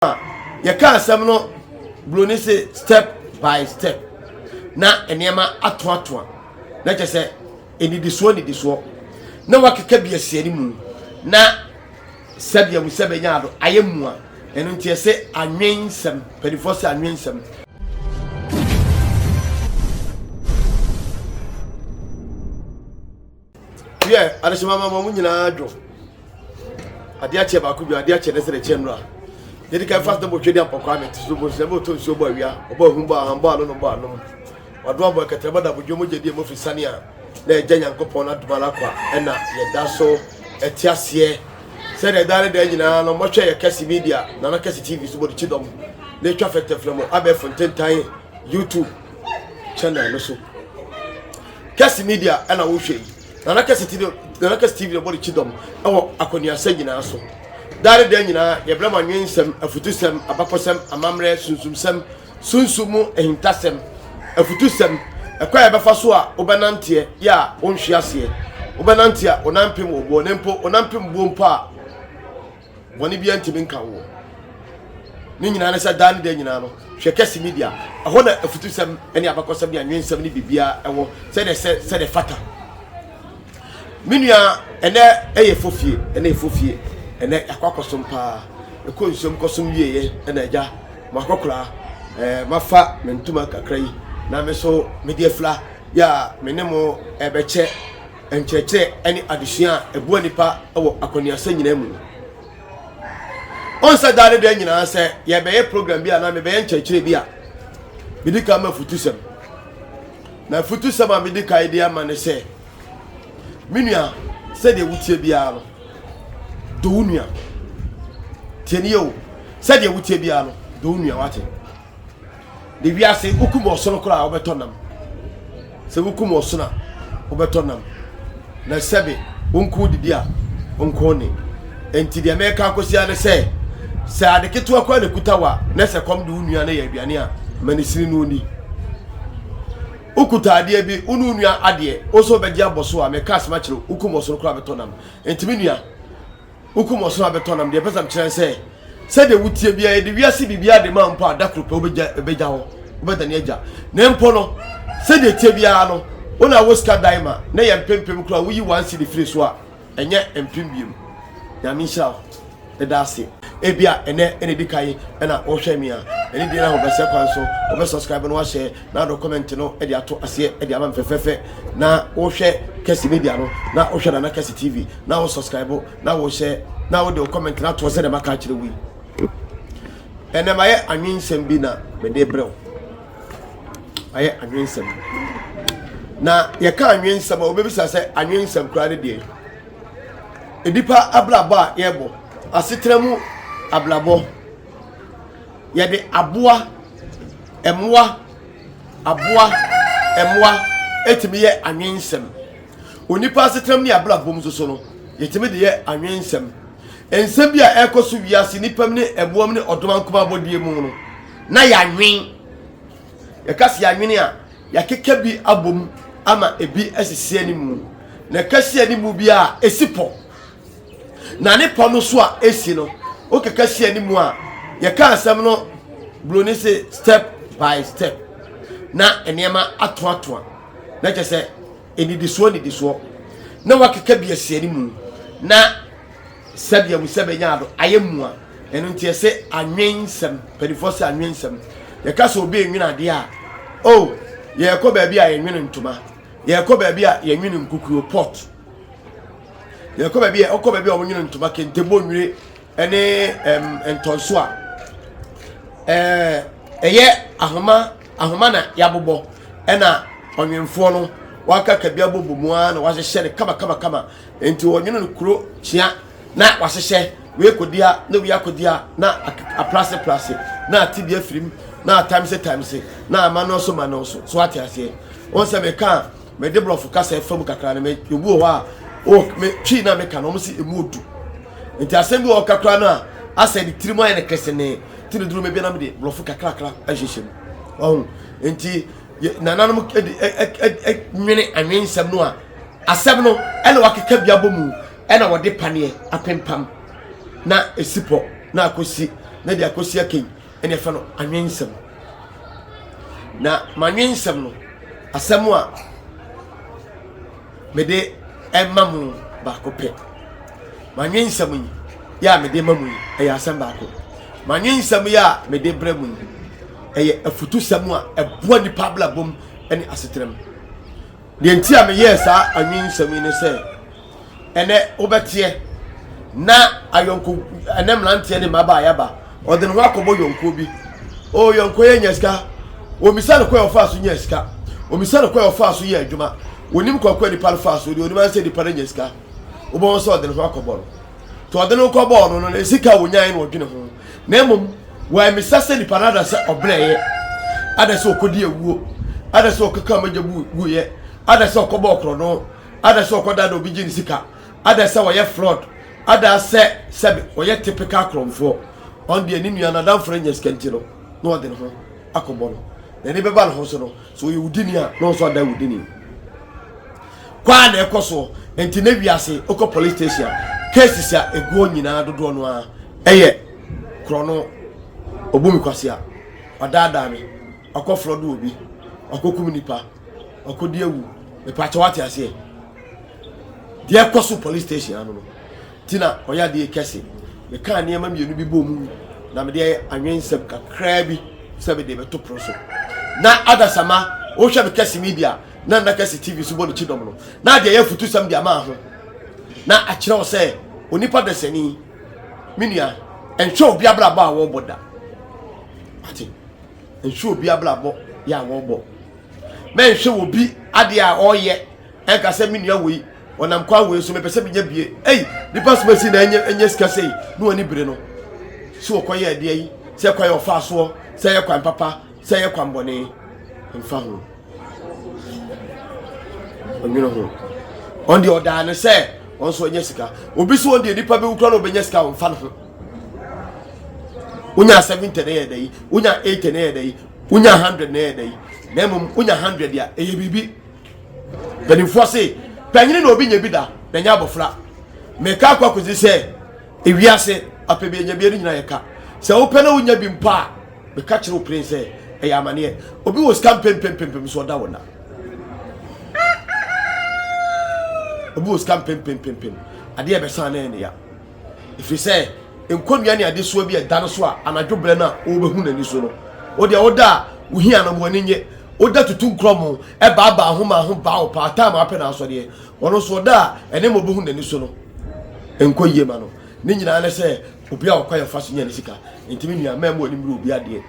a yɛka asɛm no buroni se step by step na nneɛma atoatoa na kyɛ sɛ nnidisoɔ nnidisoɔ na wakeka bi asiane mu na sɛdeɛ mu sɛ bɛnya ado ayɛ mu a ɛno nti ɛsɛ anwen nsɛm mpanimfoɔ sɛ anwen nsɛm wiɛ adehyema ma mo nyinaa dwo adeɛ akyɛ baako dwo adeɛ akyɛ ne sɛ ɛkyɛ nnura yɛde ka fast bɔ twɛdi ampɔkɔ amɛ te so bɔ nsɛm bɔ to nsuo bɔ awia ɔbɔ ahum bɔ aham bɔ ano no bɔ anom ɔdo abɔ ɛkɛtɛrɛ bɔ dabo dwo mo gyedie mo firi sane a na ɛgya nyankopɔn no adoma no akwa ɛna yɛda so ɛte aseɛ sɛdeɛ ɛda ne da nyinaa no mɔhwɛ yɛ kɛse media nana kɛse tv so bɔ de kyi dɔm na ɛtwa fɛntɛfrɛ mu abɛɛfo ntentan youtube channel no so Kess Media na wohwɛ yi. Nana Kess TV Nana Kess TV na ɛbɔ ne kyidɔm wɔ akɔneasa nyinaa so. Daa ne da nyinaa, yɛbrɛ mo anwensɛm, afutusɛm, abakɔsɛm, amammerɛ, sunsumsɛm, sunsum mu ahintasɛm, afutusɛm, ɛkwan a yɛbɛfa so a wobɛnanteɛ yɛ a wonhwe aseɛ, wobɛnante a wo nan mpem wo boɔ, na mpo wo nan mpem boɔ mpo a. bɔne bia ntimi nka woɔ ne nyinaa ne sɛ daa ne da nyinaa no hwɛ kɛse media ɛhɔ na afutusɛm ne abakɔsɛm ne anwensɛm ne biribiaa ɛwɔ sɛdeɛ sɛ sɛdeɛ fata me nua ɛnɛ ɛyɛ fofie ɛnɛ fofie ɛnɛ akɔ akɔsom paa ɛkɔ nsuom kɔsom wieɛ ɛna agya mo akɔkoraa ɛɛ mafa me ntoma kakra yi na me so mede afira yɛ a me ne mo ɛbɛkyɛ nkyerɛkyerɛ ne adesua a ɛboa nnipa wɔ akɔneasa nyinaa mu no. Ɔnsɛ daa ne da nyinaa sɛ yɛbɛyɛ program bi anaa mebɛyɛ nkyerɛkyerɛ bi a medi kan ma futusɛm. Na futusɛm a medi kan de ama ne sɛ, me nua, sɛdeɛ wotie biara no, dɔ wo nua. Tie ne yɛ o, sɛdeɛ wotie biara no, dɔ wo nua wate. de wiase wokum ɔsono koraa wobɛtɔ nam sɛ wokum ɔsono a wobɛtɔ nam na sɛbe wonko didi a wonko ne enti deɛ mɛka akɔsia ne sɛ sɛ ade ketewa koraa na kuta wa na sɛ kɔm de wo nua no yɛ aduane a ma ne sini no ni wokuta adeɛ bi wo ne wo nua adeɛ wo nso wobɛgye abɔ so a mɛka asɛm akyerɛ wokum ɔsono koraa bɛtɔ nam enti me nua Wokum wɔn so abɛtɔ nam. Deɛ ɛpɛ sɛ mekyerɛ sɛ, sɛdeɛ wotie biara, yɛde wiase biribiara de ma mpo a, da koro pɛ wobɛgya ɛbɛgya hɔ, wobɛdane agya. Na mpo no, sɛdeɛ ɛteɛ biara no, wo na wɔ sika dan ma, na yɛ mpempem koraa woyi one cedi firi so a, ɛnyɛ mpem mmienu. Nyame nhyira wo. Meda ase. Ebia ɛnɛ na ɛdi kan na wohwɛ me a, ɛne deɛ na wobɛsɛ kwan so, wobɛ subscribe na woahyɛ. na dɔkɔmɛnt no de ato aseɛ de ama me fɛfɛɛfɛ na wohwɛ kɛse media no na wohwɛ nana kɛse tv na wo subscribe na wohyɛ na wode wo comment no atoɔ sɛdeɛ maka akyerɛ wo yi ɛnɛ mayɛ anwensɛm bi na mede berɛ wo ayɛ anwensɛm na yɛka anwensɛm a wobɛbisa sɛ anwensɛm koraa ne deɛ nnipa abrabɔ a yɛbɔ asetena mu abrabɔ yɛde aboa Mmoa, aboa, mmoa tumi yɛ anwensɛm. Onipa asetram ne abrabɔ mu nso so no, yɛtumi de yɛ anwensɛm. Nsɛm bi a ɛrekɔ so wiase nnipa mu ne mmoa mu ne ɔdɔm ankomaa bɔdeɛ mu no, na yɛanwen. Yɛka sɛ yɛanwene a, yɛakeka bi abom ama ebi asisi animu. Na ɛka si animu bi a, ɛsi pɔ. na ne pɔ no so a esi no wokeka si anim a yɛka asɛm no buroni se step by step na nneɛma atoatoa na kyɛ sɛ nnidisoɔ nnidisoɔ na wakeka bi asi anim na sɛdeɛ mu sɛ bɛnya ado ayɛ mu a ɛno nti ɛsɛ anwen nsɛm mpanimfoɔ sɛ anwen nsɛm yɛka sɛ obi enwene adeɛ a o oh, yɛrekɔ baabi a yɛnwene ntoma yɛrekɔ baabi a yɛnwene nkukuo pot Yɛkɔ baabi a ɔkɔ baabi a wɔnwene ntoma kente bɔ nwire ne ɛm ntɔnso a ɛɛ ɛyɛ ahoma ahoma na yɛabobɔ ɛna ɔnwenfoɔ no wakaka bi abɔ bɔ mu ara na wahyehyɛ no kama kama kama nti ɔnwene no kuro kyea na wahyehyɛ wei kɔdia na wei akɔdia na aprase prase na ate bi afirim na atamse tamse na ama no so ma no so so ate aseɛ wɔn sɛ meka a Me de brɔfo kasa ɛfa mu kakra no me obi wɔ hɔ a o me twi na meka no ɔmo si emu odu nti asɛm bi wɔ ɔka koraa no a asɛ ne tirim ayɛ ne kesene ti ne duro mebia na mede brɔfo kakrakra ahyehyɛ mu ɔho nti nananom nwene anwen nsɛm no a asɛm no ɛna wakeka bi abɔ mu ɛna wɔde paneɛ apempam na ɛsi pɔ na akɔsi na de akɔsi akɛyi ɛna ɛfɛ no anwensɛm na manwensɛm no asɛm a mede ɛma mu baako pɛ manwensɛm yi yɛ a mede ma mu yi ɛyɛ asɛm baako manwensɛm yɛ a mede brɛ mu yi ɛyɛ afutusɛm a ɛboa nipa abrabom ne asetenam deɛ nti a meyɛɛ saa anwensɛm yi ne sɛ ɛnɛ wobɛteɛ na ayɔnko ɛnɛ mmeranteɛ ne mmabaa yaba ɔde ne ho akɔbɔ yɔnkoɔ bi o yɔnkoɔ yɛ nya sika omisa no kɔ yɛ ɔfaa so nya sika omisa no kɔ yɛ ɔfaa so yɛ adwuma onim kɔkɔ nipa no faa so deɛ onim ansɛ nipa no nya sika wobɛhu sɛ ɔde ne ho akɔbɔ no to ɔde no kɔbɔɔ no no na sika a wɔnyae no ɔdwene ho na mmom wɔamisa sɛ nipa no ada sɛ ɔbrɛeɛ ada sɛ ɔkɔdi awuo ada sɛ ɔkeka magya bu guiɛ ada sɛ ɔkɔbɔ ɔkorɔ no ada sɛ ɔkɔ da na obi gye ne sika, ada sɛ ɔyɛ fraud, ada sɛ sɛbe ɔyɛ typical korɔnfoɔ, ɔno deɛ ne nua no adamfo no anya sika nti no na ɔde ne ho akɔbɔ no, na ɛde bɛba ne ho so no, sɛ ɔyɛ wudini a na ɔnso ada wudini. Kwaa na ɛkɔ soɔ, nti na wiase okɔ police station a cases a ɛguɔ nyinaa dodoɔ no ara ɛyɛ korɔno, ɔbu me kwasea, ɔdaadaa me, ɔkɔ fraud wɔ bi, ɔkɔ kum nipa. ɔkɔdi awu mepakyɛ wate aseɛ deɛ ɛkɔ so police station ano no nti na ɔyɛ adeɛ kɛse mekaa nneɛma mmienu bi bɔ mu na mede ayɛ anwensɛm kakraa bi sɛ mede bɛto pono so na adasama wohwɛ me kɛse media na nna kɛse tv so bɔ ne kyidɔm no na adeɛ yɛ afutusɛm de ama ho na akyerɛ wo sɛ onipa dasani me nua ɛnhwɛ obi abrabɔ a wɔbɔ da ate nhwɛ obi abrabɔ yɛ a wɔbɔ mɛnhwɛ wɔ bi adeɛ a ɔyɛ ɛnka sɛ me nua wei ɔnam kwan wei so mepɛ sɛ menya bie ei nipa so bɛsi na ɛnyɛ ɛnyɛ sika sei ne wɔn bere no so wɔkɔ yɛ adeɛ yi sɛ kwan yɛ ɔfa soɔ sɛ yɛ kwan papa sɛ yɛ kwan bɔne mfa ho ɔnwene ho ɔn deɛ ɔdaa ne sɛ ɔn so ɔnyɛ sika obi so ɔn deɛ nipa bɛwu kora na ɔbɛnya sika ɔmfa ne ho wonya seventy na ɛyɛ dɛ yi wonya eighty na ɛyɛ dɛ yi wonya hundred na ɛyɛ dɛ yi na mmom wonya hundred a ɛyɛ biribi mpanimfoɔ se panyini na obi nya bi da na nya abɔfra meka akɔ akɔsi sɛ ewiase apɛ bi anya bi ɛno nyinaa yɛ ka sɛ wopɛ na wonya bi mpo a meka kyerɛ wo pere sɛ ɛyɛ amaneɛ obi wɔ sika mpempempempem so ɔda wo na obi wɔ sika mpempempempem adeɛ ɛbɛsan na ɛne ya ɛfiri sɛ nkonnwa ne adesoa bi a ɛda no so a anadwo berɛ no a wobɛhu n'ani so no wo deɛ woda a wohia no wɔn nye woda tutu nkorɔmo ɛbaabaa ho ma ho baa wo paa time apɛ na asɔdeɛ ɔno nso ɔda a ɛne ma wobɛhu n'ani so no nkɔ yie ma no ne nyinaa ne sɛ obi a ɔkwa yɛ fa so nya ne sika nti me nua mɛmɔ anim ne obi adeɛ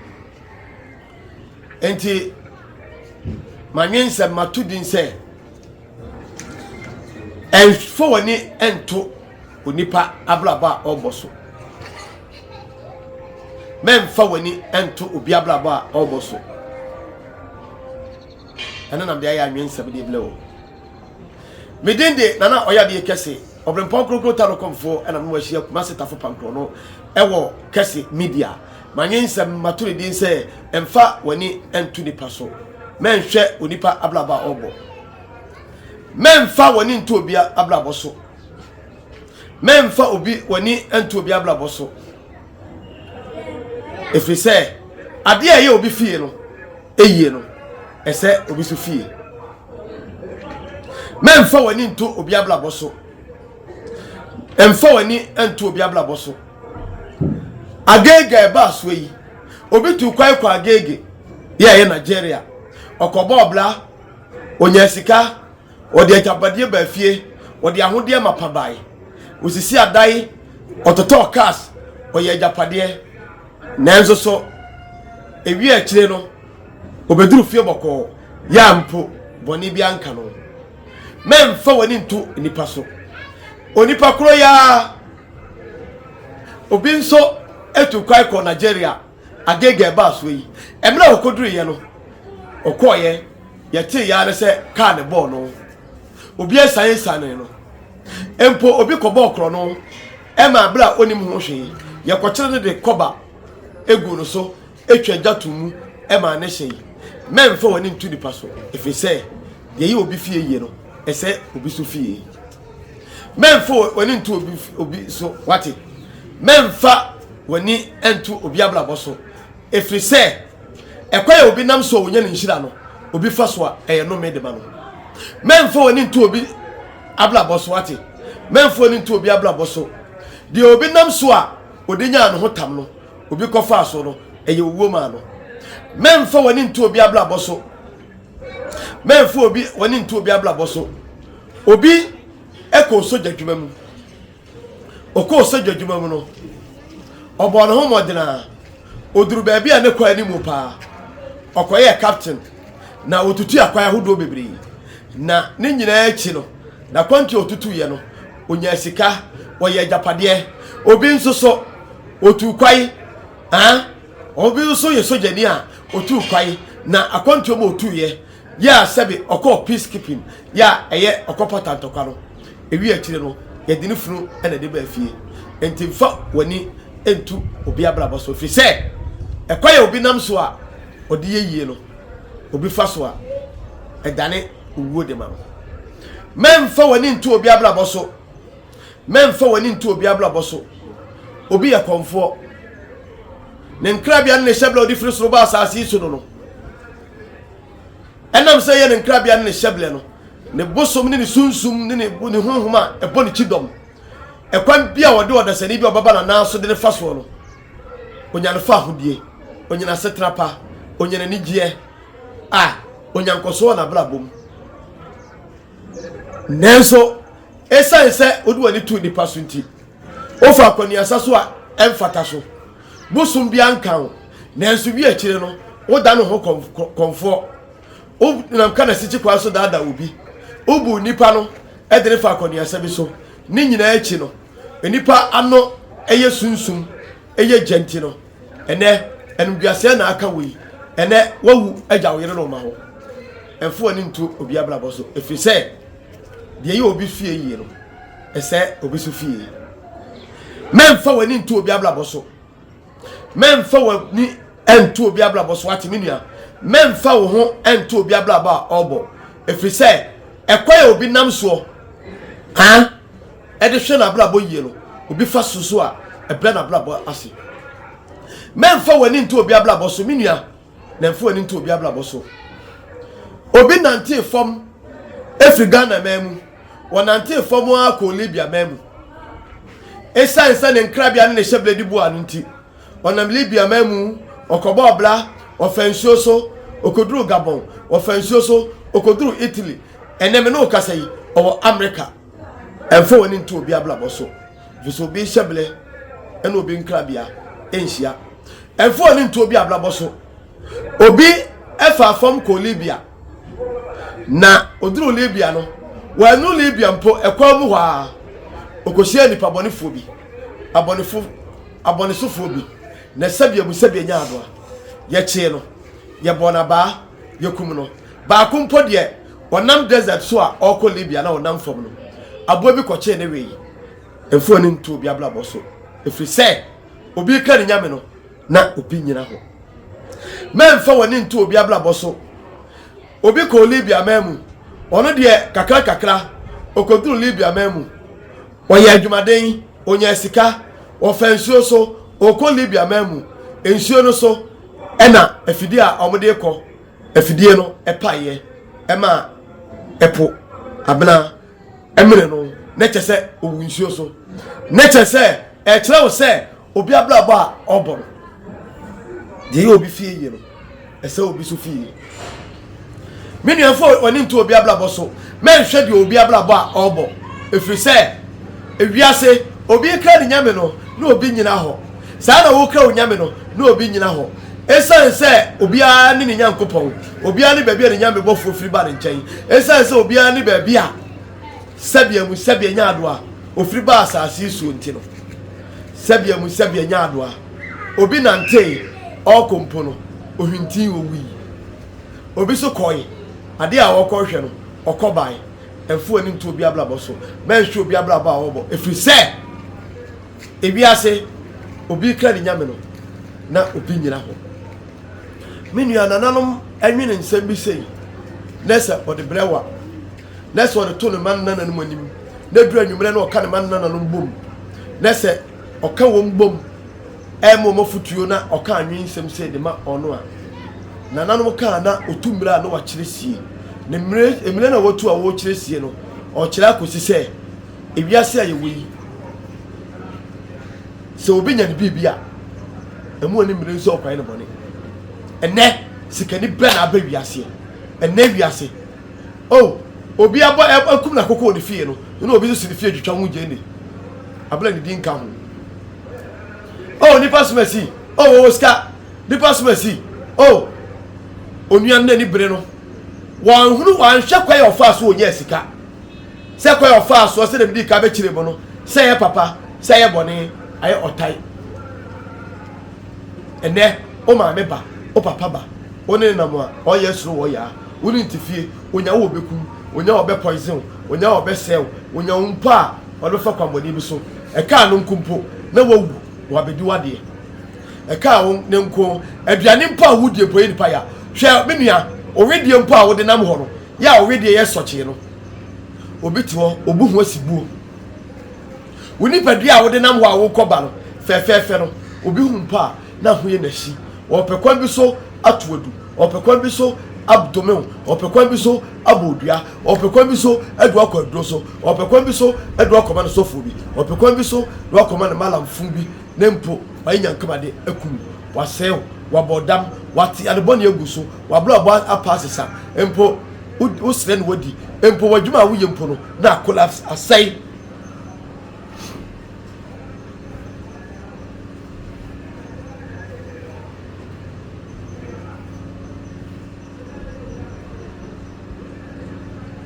nti manwensɛm mato din sɛ Mfa w'ani nto onipa abrabɔ a ɔrebɔ so. Mɛmfa w'ani nto obi abrabɔ a ɔrebɔ so. Ɛno nam de ayɛ anwensɛm de blɛ o. Me din de nana ɔyadeɛ kɛse ɔbrempɔn kurokuro ta no kɔmfoɔ ɛna mo ahyia kumase tafo pankorɔ no ɛwɔ kɛse media. Mannye nsɛm, mato no din sɛ, Mfa w'ani nto nnipa so, mɛnhwɛ onipa abrabɔ a ɔrebɔ. Mɛmfa w'ani nto obi abrabɔ so. Mɛmfa obi w'ani nto obi abrabɔ so. Ɛfiri sɛ, adeɛ a ɛyɛ obi fie no, ɛyie no, ɛsɛ obi so fie. Mɛmfa w'ani nto obi abrabɔ so. Mfa w'ani nto obi abrabɔ so. Agege a ɛbaa soɔ yi, obi tuu kwan kɔɔ Agege, yɛ ɛyɛ Nigeria. Ɔkɔbɔɔ bra, ɔnyaa sika, ɔde agyapadeɛ baa fie, ɔde ahodeɛ mapa baeɛ, ɔsisii adan, ɔtotɔɔ cars, ɔyɛɛ agyapadeɛ. Nanso so, ɛwiee akyire no, ɔbɛduruu fie bɔkɔɔ, yɛ a mpo bɔne biara nka no. Mɛmfa w'ani nto nnipa so. Onipa korɔ yi ara. Obi nso tu kwan kɔɔ Nigeria, Agege ɛbaa soɔ yi. Mmerɛ a ɔkɔduruiɛ no, ɔkɔeɛ, yɛtee yɛ ara sɛ kaa no bɔɔ no. Obi asianesianee no. Mpo obi kɔbɔɔ korɔno maa berɛ a ɔnnim ho hwee. Yɛkɔkyere no de kɔba guu no so. Twa gya to mu ma ne hye yi. Mɛmfa w'ani nto nipa so, ɛfiri sɛ deɛ ɛyɛ obi fie yie no, ɛsɛ obi so fie. Mɛmfa w'ani nto obi, obi so, wate? Mɛmfa w'ani nto obi abrabɔ so, ɛfiri sɛ ɛkwan a obi nam so a ɔnya ne nhyira no, obi fa so a ɛyɛ nnome de ma no. Mɛmfa w'ani nto obi abrabɔ so, wate? Mɛmfa w'ani nto obi abrabɔ so, deɛ obi nam so a ɔde nyaa ne ho tam no. Obi kɔfaa so no, ɛyɛ owuo maa no. Mɛmfa w'ani nto obi abrabɔ so. Mɛmfa obi w'ani nto obi abrabɔ so. Obi kɔɔ sogya adwuma mu. Ɔkɔɔ sogya adwuma mu no, ɔbɔɔ ne ho mmɔden a ɔduru baabi a ne kɔ anim paa. Ɔkɔyɛɛ captain na ɔtutu akwan ahodoɔ bebree. Na ne nyinaa akyi no, n'akwantuo a ɔtutuiɛ no, Ɔnyaa sika, ɔyɛɛ agyapadeɛ. Obi nso so, ɔtuu kwae. Aa, obi nso yɛ sogyani a ɔtuu kwae, na akwantuo ma ɔtuiɛ. Yɛ a sɛbe ɔkɔɔ peacekeeping, yɛ a ɛyɛ ɔkɔpata ntɔkwa no. Ɛwieɛ akyire no, yɛde ne funu na ɛde baa fie. Enti mfa w'ani ntu obi abrabɔ so, ɛfiri sɛ, ɛkwan a obi nam so a ɔde yɛ yie no, obi fa so a, ɛdane owuo de ma no. Mɛmfa w'ani nto obi abrabɔ so. Mɛmfa w'ani nto obi abrabɔ so. Obi yɛ kɔmfoɔ. Ne nkrabea ne ne hyɛbrɛ a ɔde firi soro ba asase yi so no no. Ɛnam sɛ ɛyɛ ne nkrabea ne ne hyɛbrɛ no, ne bosom ne ne sunsum ne ne, ne honhom a ɛbɔ ne kyidɔm. Ɛkwan bi a wɔde ɔdasani bi a ɔbɛba n'anan so de no fa soɔ no, onya no fa ahodie, onya n'asetena pa, onya n'anigyeɛ, a onya nkɔsoɔ wɔ n'abrabɔ mu. Nanso, esiane sɛ wode w'ani to nnipa so nti, wofa akwanuasa so a ɛmfata so. Bosom biara nka wo, nanso wi akyire no, wodan wo ho kɔmfoɔ. Wonam ka n'asikyi kwan so daadaa obi. Wobu nnipa no de no fa akwanuasa bi so. Ne nyinaa akyi no, nnipa ano yɛ sunsum, yɛ gya nti no, Ɛnɛ, animguaseɛ na aka wo yi. Ɛnɛ, woawu agya wo yere ne wo mma hɔ. Mfa w'ani nto obi abrabɔ so, ɛfiri sɛ deɛ ɛyɛ obi fie yie no, ɛsɛ obi so fie. Mɛmfa w'ani nto obi abrabɔ so. Mɛmfa w'ani nto obi abrabɔ so, wate me nua. Mɛmfa wo ho nto obi abrabɔ a ɔrebɔ, ɛfiri sɛ ɛkwan a obi nam soɔ, Ɛde hwɛ n'abrabɔ yie no, obi fa so so a, ɛbrɛ n'abrabɔ ase. Mɛmfa w'ani nto obi abrabɔ so, me nua, na mfa w'ani nto obi abrabɔ so. Obi nantee fam firi Ghana man mu, wɔnantee fam ara kɔɔ Libya man mu. Ɛsiane sɛ ne nkrabea ne ne hyɛberɛ di boa no nti, ɔnam Libya man mu, ɔkɔbɔɔ bra, ɔfa nsuo so, ɔkɔduruu Gabon, ɔfa nsuo so, ɔkɔduruu Italy. Ɛnnɛ me ne wo kasa yi, ɔwɔ Amerika. Ɛmfa w'ani nto obi abrabɔ so, efisɛ obi hyɛbrɛ ne obi nkrabea nhyia. Ɛmfa w'ani nto obi abrabɔ so. Obi faa fam kɔɔ Libya, na oduruu Libya no, wannu Libya mpo, ɛkwan mu hɔ ara, okohyiaa nnipabɔnefoɔ bi, abɔnefo, abɔnesofoɔ bi, na sɛdeɛ mu sɛdeɛ nyaa no a, yɛkyee no, yɛbɔɔ no abaa, yɛkum no. Baako mpo deɛ, Ɔnam desert so a ɔrekɔ Libya na ɔnam fam no, aboa bi kɔkyee ne wee. Mfa w'ani nto obi abrabɔ so, ɛfiri sɛ obi reka ne nyame no, na obi nnyina hɔ. Mɛmfa w'ani nto obi abrabɔ so. Obi kɔɔ Libya man mu. Ɔno deɛ kakrankakra ɔkɔduru Libya man mu. Ɔyɛɛ adwumaden, ɔnyaa sika, ɔfaa nsuo so, ɔrekɔ Libya man mu. Nsuo no so na afidie a wɔde rekɔ Afidie no paeɛ ma ɛpo abena mene no na kyerɛ sɛ ɔwu nsuo so. Na kyerɛ sɛ ɛkyerɛ wo sɛ obi abrabɔ a ɔbɔ no deɛ ɛyɛ obi fie yie no ɛsɛ obi so fie yie. Me nuafo w'ani nto obi abrabɔ so mɛnhwɛ deɛ obi abrabɔ a ɔbɔ ɛfiri sɛ ewiase obi kra ne nyame no na obi nyina hɔ. Saa na woka onyame no na obi nyina hɔ. Esiane sɛ obiara ne ne Nyankopɔn, obiara ne baabi a ne nyame bɔfoɔ firi ba ne nkyɛn, esiane sɛ obiara ne baabi a sɛbea mu sɛbea nyaadoa ofiri baa asase yi soɔ nti no, sɛbea mu sɛbea nyaadoa obi nantee ɔɔkɔ mpo no ohwintii owui, obi so kɔɔe adeɛ a ɔɔkɔ hwɛ no ɔkɔ bae, ɛmfa w'ani nto obi abrabɔ so, mɛnhwɛ obi abrabɔ a ɔɔbɔ, ɛfiri sɛ. Ewiase, obi rekra ne nyame no, na obi nyina hɔ. Me nua nananom nwene nsɛm bi sei, na sɛ ɔde brɛ wo a, na sɛ ɔde to ne mma ne nananom anim, na duru anwummerɛ na ɔka ne mma ne nananom bom, na sɛ ɔka wɔn bom ɛma wɔn afutuo na ɔka anwene nsɛm sei de ma ɔno a, nananom kaa na ɔtu mmerɛ a na wakyerɛ sie. Ne mmerɛ na watu a ɔrekyerɛ sie no, ɔkyerɛ akɔsi sɛ Ewiase a yɛwɔ yi, sɛ obi nya ne biribi a, ɛmu ani mmere nso ɔkwan ne bɔne. Ɛnɛ, sikani bɛ na abɛ wiaseɛ. Ɛnɛ wiase, oh, obi abɔ akum na koko wɔ ne fie no, ne na obi nso si ne fie twitwa ho gyeni. Abla ne di nka ho. Oh, nipa soma si, oh, wɔwɔ sika, nipa soma si, oh, onuan na ni bere no, wɔanhunu, wɔanhwɛ kwan a ɔfaa so ɔnyɛɛ sika. Sɛ kwan a ɔfaa soɔ sɛdeɛ medii kan bɛkyerɛɛ mu no, sɛ ɛyɛ papa, sɛ ɛyɛ bɔne, ayɛ ɔtan. Ɛnnɛ, wo maame ba, wo papa ba, wo ne no nam a, ɔyɛ suro wɔ ɔyaa, wo ne no te fie, ɔnya wo ɔbɛkum, ɔnya ɔbɛ poison wo, ɔnya ɔbɛsɛe wo, ɔnya wo mpo a, ɔde bɛfa kwanbɔne bi so. Ɛkaa no nko mpo na wawu, wabɛdi w'adeɛ. Ɛkaa wo ne nko, aduane mpo a wodie mpo ɛyɛ nipa ya. Hwɛ me nua, wo wedeɛ mpo a wode nam hɔ no, Yɛ a wedeɛ yɛ sɔkyee no, obi te hɔ, obu ho asi buo. Wo nipadua a wode nam hɔ a wokɔ ba no fɛfɛɛfɛ no, obi hu mpo a, na ho yɛ n'ahyi. Ɔpɛ kwan bi so ato adu, ɔpɛ kwan bi so adome wo, ɔpɛ kwan bi so abɔ odua, ɔpɛ kwan bi so adu akɔ aduro so, ɔpɛ kwan bi so adu akɔma ne sɔfoɔ bi, ɔpɛ kwan bi so adu akɔma ne malamfo bi, na mpo wayɛ nyankamade akum wo, wasɛe wo, wabɔ dam, wate adebɔne agu so. w'abrabɔ apa asesa mpo wo srɛ na wadi mpo w'adwuma a woyɛ mpo no na collapse asɛe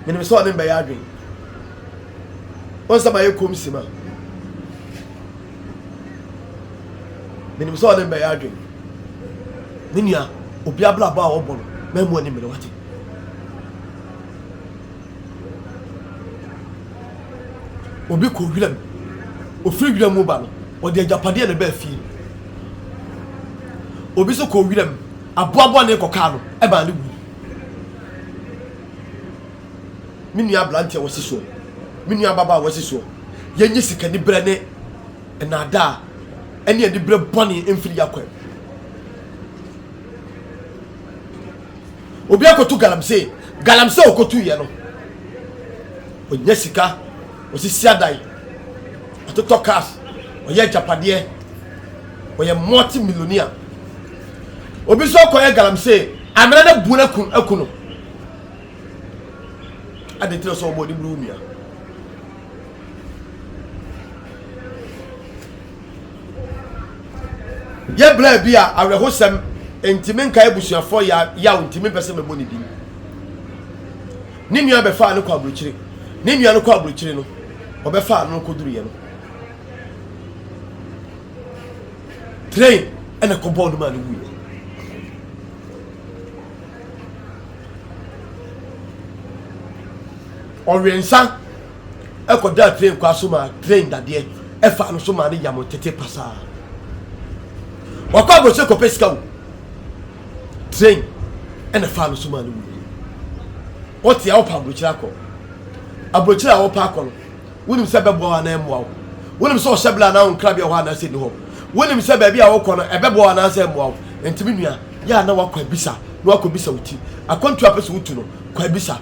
menim sɛ ɔne mbɛyɛ adwen ɔnsɛ ma yɛ kɔm si ma menim sɛ ɔne mbɛyɛ adwen me nua obi abrabɔ a wɔbɔ no mɛmu ani mmere wate obi kɔ wiram ofiri wiram mu ba no ɔde agyapadeɛ na ɛbaa fie obi so kɔ wiram aboaboa ne kɔkaa no ɛbaa ne wui me nua aberanteɛ wɔ si soɔ, me nua ababaa wɔ si soɔ. Yɛnyi sikaniberɛ ne nnaadaa ne aniberɛ bɔne mfiri yɛakwan mu. Obi akɔtu galamsey, galamsey ɔkɔtuiɛ no, ɔnya sika, ɔsisi adan, ɔtotɔ cars, ɔyɛ agyapadeɛ, ɔyɛ multi millionaire. Obi nso akɔyɛ galamsey, amena no abu no aku no. Adɛn nti na sɛ ɔbɔ w'ani bere wo nua? Yɛ bere bi a awerɛhosɛm nti menkae abusuafoɔ yaw nti mempɛ sɛ mɛbɔ ne din. Ne nua bɛfaa no kɔ aburokyire. Ne nua no kɔ aburokyire no, ɔbɛfaa no kɔduruiɛ no. Train ɛna kɔbɔɔ no maa no wuiɛ. Ɔwɛnsa kɔdaa train kwan so maa train dadeɛ ɛfaa no so maa no yam tete pasaa. Wakɔ abɔsɛ kɔpɛ sika o. Train ɛna faa no so maa no wuo. Wɔte a wɔpa aburokyire akɔ. Aburokyire a wɔpa akɔ no. Wonim sɛ ɛbɛboa wo anaa ɛmmoa wo. Wonim sɛ ɔhyɛ bere anaa wo nkrabea wɔ hɔ anaasɛ nni hɔ. Wonim sɛ baabi a wokɔ no, ɛbɛboa wo anaasɛ ɛmmoa wo. Enti me nua, yɛ a na woakɔ abisa na woakɔbisa wo ti. Akwantu a wopɛ sɛ wotu no, kɔ abisa.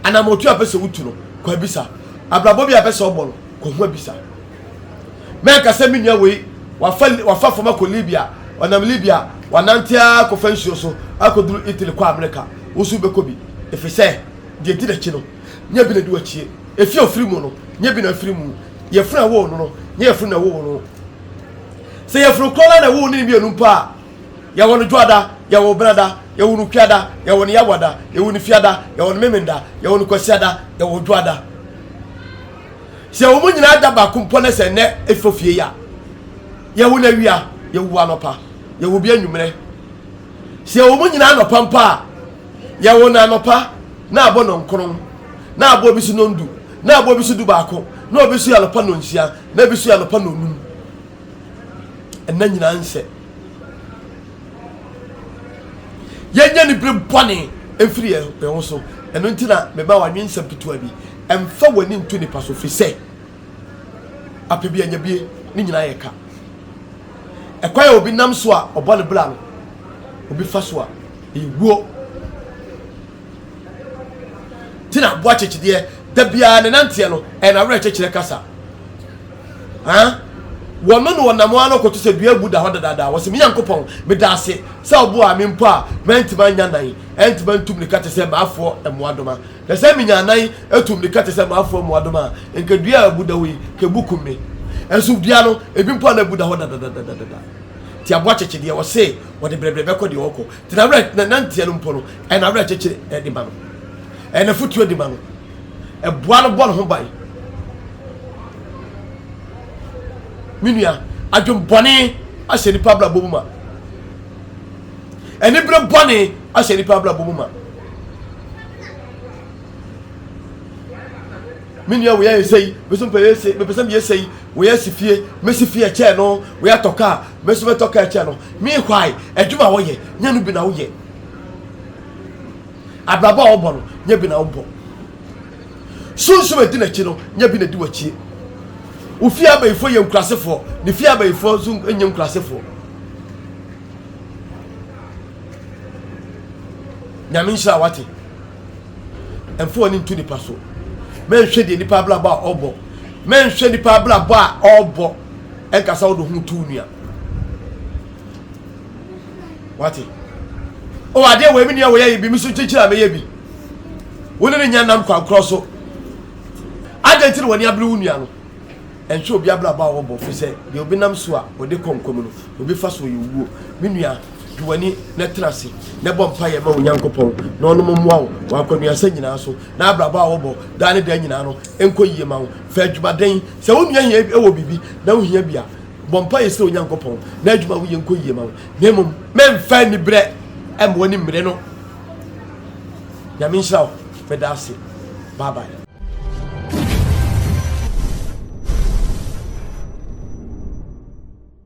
Anammɔntu a wopɛ sɛ wotu no, kɔ abisa. Abrabɔ bi a wopɛ sɛ wobɔ no, kɔ ho abisa. Mɛnka sɛ me nua wei, wafa, wafa fam akɔ Libya, ɔnam Libya, wanante ara kɔfa nsuo so akɔduru Italy kɔ Amerika. Wo nso wobɛkɔ bi, efisɛ deɛ ɛdi n'akyi no, nyɛ bi na di w'akyie, efi a ofiri mu no, nyɛ bi na afiri mu, yɛfunu a ɛwoo no no, nyɛ yɛfunu na ɛwoo wo no. Sɛ yɛfunu korɔ na na ɛwoo ne mmienu mpo a, yɛwɔ no dwoada, yɛwɔ benada, yɛwɔ no kuada, yɛwɔ no yawada, yɛwɔ no fiada, yɛwɔ no memenda, yɛwɔ no kwasiada, yɛwɔ dwoada. Sɛ yɛwɔ mu nyinaa da baako mpo na sɛ nnɛ efi ofie ya, yɛwɔ no awia, yɛwɔ anɔpa, yɛwɔ bi anwummerɛ. Sɛ yɛwɔ mu nyinaa anɔpa mpo a, Yɛwo no anɔpa, na abɔ nɔnkron, na abɔ bi so nɔndu, na abɔ bi so dubaako, na obi so yɛ anɔpa nɔnsia, na bi so yɛ anɔpa nɔnum. Ɛna nyinaa nsɛ. Yɛnyɛ ne bere bɔne mfiri yɛn ho so. Ɛno nti na mema wɔanwe nsɛm ketewa bi. Ɛmfa w'ani nto nipa so, firi sɛ apɛ bi anya bie, ne nyinaa yɛ ka. Ɛkwan a obi nam so a ɔbɔ ne bra no, obi fa so a, Ewuo Ti na aboa kyekyedeɛ da biara ne nanteɛ no ɛyɛ n'awerɛkyekyerɛ kasa ah wɔno na ɔnam ano kɔto sɛ dua abu da hɔ dadaada wɔsi me nyankopɔn meda ase sɛ ɔboa me mpo a mɛntumi anya nan ɛntumi antum ne ka te sɛ maafoɔ mmoadoma na sɛ menya nan atum ne ka te sɛ maafoɔ mmoadoma a nka dua a abu da hɔ yi ka ebu kum me ɛnso dua no ebi mpo a na abu da hɔ dadadadadada ti aboa kyekyedeɛ wɔse wɔde brɛbrɛ bɛkɔ deɛ ɔkɔ nti n'awerɛ na nanteɛ no mpo no ɛyɛ n'awerɛ kyekyere ɛde ma no ɛyɛ n'afutuo de ma no ɛboa no bɔ ne ho ban me nua adwembɔne ahyɛ nipa abrabɔ mu ma anibere bɔne ahyɛ nipa abrabɔ mu ma Me nua wei ayɛ sei, me nso mepɛ yɛ sei, mepɛ sɛ meyɛ sei, wei asi fie, mɛsi fie ɛkyɛn no, wei atɔ kaa, me nso mɛtɔ kaa ɛkyɛn no. Meanwhile, adwuma a wɔyɛ, nyɛ no bi na woyɛ. Abrabɔ a wɔbɔ no, nyɛ bi na wobɔ. Sunsum a ɛdi n'akyi no, nyɛ bi na ɛdi w'akyie. Wo fie abayifoɔ yɛ nkurasefoɔ, ne fie abayifoɔ nso nyɛ nkurasefoɔ. Nyame nhyira wate. ɛmfa w'ani nto nipa so mɛnhwɛ deɛ nipa abrabɔ a ɔbɔ mɛnhwɛ nipa abrabɔ a ɔbɔ ɛnkasa wode ho to nua wate o adeɛ wɔ ɛmi nua wɔyɛ yi bi mi so kyekyere a mɛyɛ bi wo ne ne nya nam kwankorɔ so adɛn ti na wɔne abere wo nua no ɛnhwɛ obi abrabɔ a wɔbɔ fi sɛ deɛ obi nam so a wɔde kɔ nkwa mu no obi fa so yɛ owuo me nua Di w'ani na tena ase na bɔ mpaeɛ ma wo Nyankopɔn na ɔno mo mmoa wo wɔ akwannuasa nyinaa so na abrabɔ a wɔbɔ daa ne daa nyinaa no nkɔ yie ma wo. Fa adwumaden. Sɛ wo nua hia wɔ biribi na wo hia bi a, bɔ mpaeɛ srɛ Onyankopɔn na adwuma a woyɛ nkɔ yie ma wo. Na mmom, mɛmfa aniberɛ mma w'ani mmere no. Nyame nhyira wo. Meda ase. Bye bye.